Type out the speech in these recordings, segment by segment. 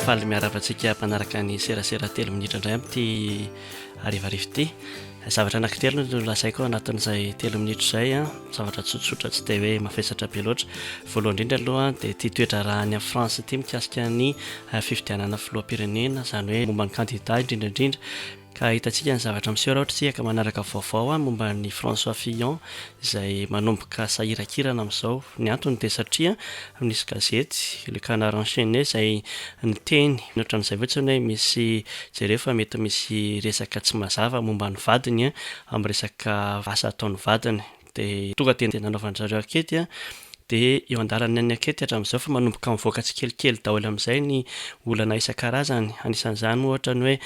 faly miarava antsika mpanaraka ny serasera telo minitra indray amin'ity arivarivo ity zavatra anankitelo no lazaiko anatin'izay telo minitra izay a zavatra tsotsotra tsy dia hoe mafesatra be loatra voalohany indrindra aloha dia tia toetra raha any france ity mikasika ny fifidianana filohampirenena izany hoe momba ny kandida indrindra indrindra Ka ahitantsika ny zavatra miseho raha ohatra isika ka manaraka vaovao momba an'i François Fillon izay manomboka sahirankirana amin'izao. Ny antony dia satria nisy gazety, Le Canard Enchaîné, izay niteny ohatran'izay fotsiny hoe misy jereo fa mety misy resaka tsy mazava momba ny vadiny amin'ny resaka asa ataon'ny vadiny. Dia tonga dia nanaovan-dry zareo ankety an, dia eo an-dalana ny ankety hatramin'izao fa manomboka mivoaka tsikelikely daholo amin'izay ny olana isan-karazany, anisan'izany ohatra ny hoe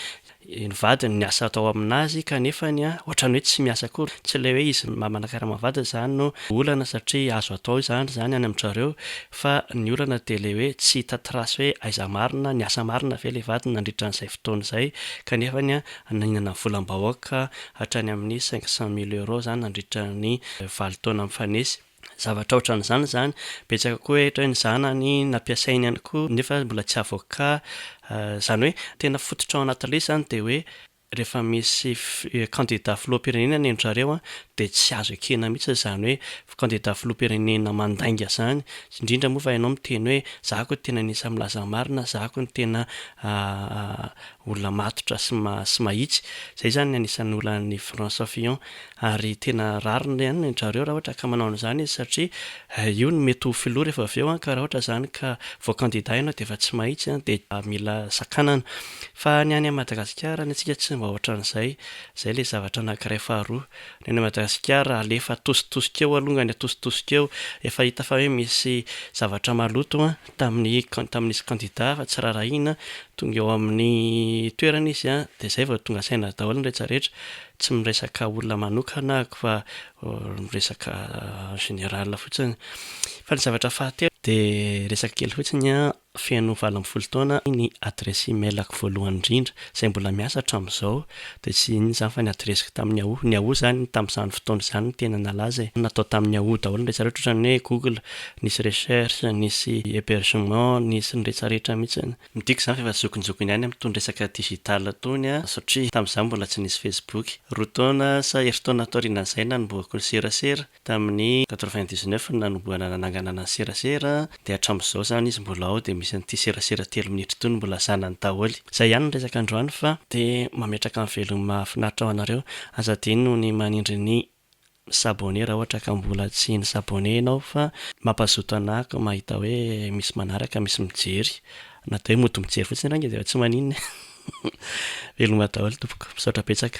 ny vadiny niasa hatao amin'azy kanefany an ohatran'ny hoe tsy miasa akory, tsy ilay hoe izy maha manakarama ny vadiny izany no olana satria azo hatao izany izany any amin-dry zareo fa ny olana dia ilay hoe tsy hita trace hoe aiza marina, niasa marina ve ilay vadiny nandritra an'izay fotoana izay kanefany an Hanaingana volam-bahoaka hatrany amin'ny cinq cent mille euros izany nandritra ny valo taona mifanesy. Zavatra ohatran'izany izany. Betsaka koa hatry ny zanany nampiasainy ihany koa nefa mbola tsy avoka. Izany hoe tena fototra ao anaty list izany dia hoe rehefa misy candidat filoham-pirenena ny an-dry zareo dia tsy azo ekena mihitsy izany hoe kandida filoham-pirenena mandainga zany, indrindra moa fa ianao miteny hoe za ko tena anisan'ny milaza ny marina, za ko no tena olona matotra sy sy mahitsy, zay zany ny anisan'ny olan'i François Fillon, ary tena rariny ihany ny an-dry zareo raha ohatra ka manao an'izany izy satria io no mety ho filoha rehefa avy eo an, ka raha ohatra zany ka voakandida ianao dia efa tsy mahitsy an, dia mila sakanana, fa ny any Madagasikara ny antsika tsy mba ohatran'izay, zay ilay zavatra anakiray faharoa. Ny any Madagasikara alefa atositosika eo alongany atositosika eo efa hita fa hoe misy zavatra maloto an, tamin'ny tamin'izy kandida fa tsy raharahiana, tonga eo amin'ny toerana izy an, dia izay vao tonga saina daholo ny rehetra rehetra, tsy miresaka olona manokana ako fa miresaka en général fotsiny, fa ny zavatra fahatelo dia resaka kely fotsiny an, Feno valo ambin'ny folo taona ny adiresy emailako voalohany indrindra, izay mbola miasa hatramin'izao, dia tsy inona izany fa ny adiresiko tamin'ny Yahoo. Ny Yahoo izany tamin'izany fotoana izany no tena nalaza e. Natao tamin'ny Yahoo daholo ny rehetra rehetra, ohatran'ny hoe Google, nisy recherche, nisy hebergement, nisy ny rehetra rehetra mihitsy. Midika izany fa efa zokinjokiny ihany amin'itony resaka digital itony aho, satria tamin'izany mbola tsy nisy Facebook. Roa taona sa herintaona taorianan'izay nanombohako ny serasera. Tamin'ny quatre-vingt-dix-neuf no nanombohana nananganana ny serasera dia hatramin'izao izany izy mbola ao dia misy an'ity serasera telo minitra ity no mbola zanany daholo. Izay ihany ny resaka androany fa dia mametraka ny velon'ny mahafinaritra ho anareo. Aza adino ny manindry ny mi s'abonner raha ohatra ka mbola tsy ni s'abonner ianao fa mampazoto anako mahita hoe misy manaraka, misy mijery. Na dia hoe mody mijery fotsiny ary anie dia tsy maninona e. Veloma daholo tompoko. Misaotra betsaka.